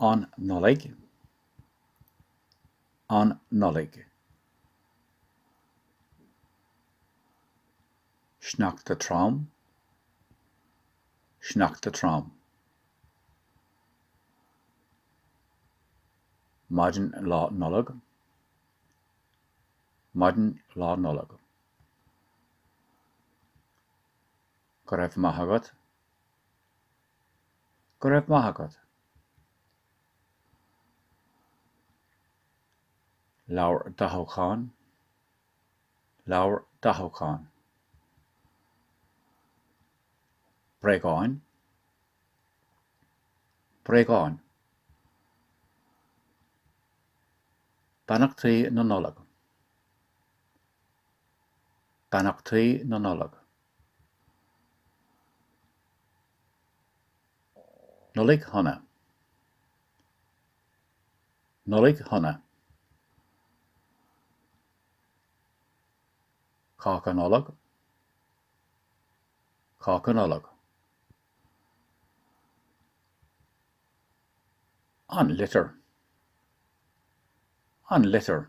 an Nollaig an Nollaig sneachta trom sneachta trom maidin lá Nollag maidin lá Nollag go raibh maith agat Go raibh maith agat. Leabhar dathúcháin Leabhar dathúcháin. Bréagáin Bréagáin. Beannachtaí na Nollag Beannachtaí na Nollag. Nollaig Shona! Nollaig Shona! Cáca Nollag Cáca Nollag. An Litir An Litir.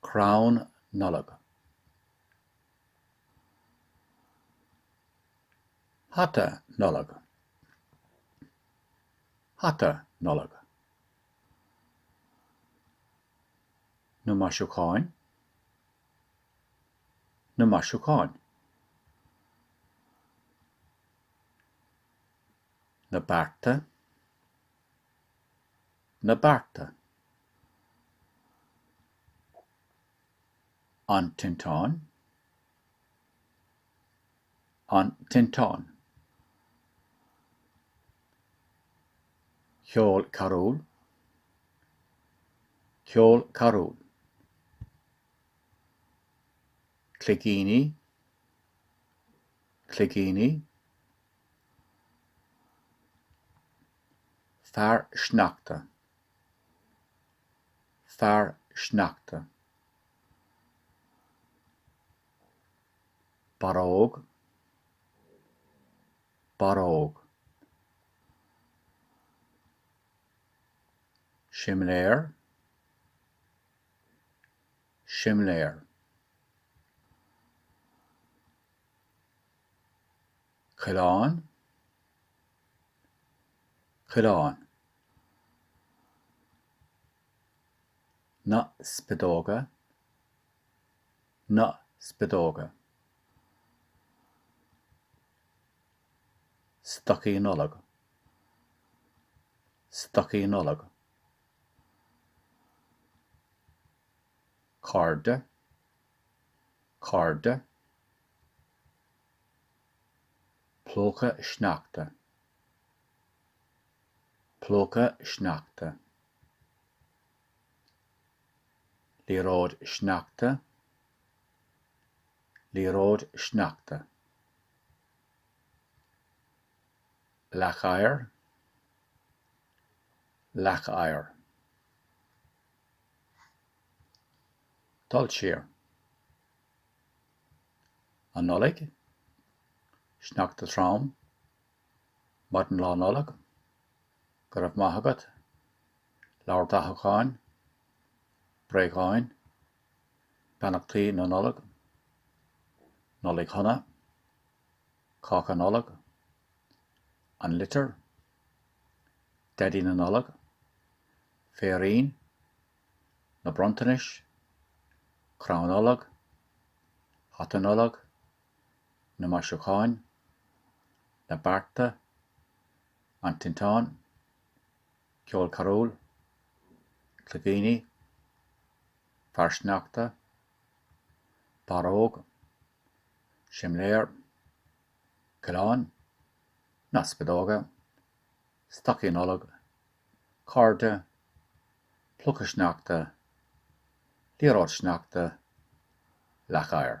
Crann Nollag. Hata Nollag. Hata Nollag. Na maisiúcháin. Na maisiúcháin. Na bearta. Na bearta. An Tinteán An Tinteán Ceol carúl Ceol carúl Cloigíní Cloigíní Fear sneachta. fear sneachta, barróg, barróg, simléar, simléar, coileán, coileán. na spideoga na spideoga stocaí nollag stocaí nollag cairde cairde plúchadh sneachta Plúchadh sneachta. Liathróid sneachta. Liathróid sneachta. Leac oighir. Leac oighir. Dul siar. An Nollaig. Sneachta trom. Maidin Lá Nollag. Go raibh maith agat. Leabhar dathúcháin. Bréagáin. Beannachtaí na Nollag. Nollaig Shona. Cáca Nollag. An Litir. Daidí na Nollag. Féirín. Na Bronntanais. Crann Nollag. Hata Nollag. na maisiúcháin, na bearta, an tinteán, ceol carúil, cloigíní, fear sneachta, barróg, simléar, coileán, na spideoga, stocaí Nollag, cairde, plúchadh sneachta, liathróid sneachta, leac oighir.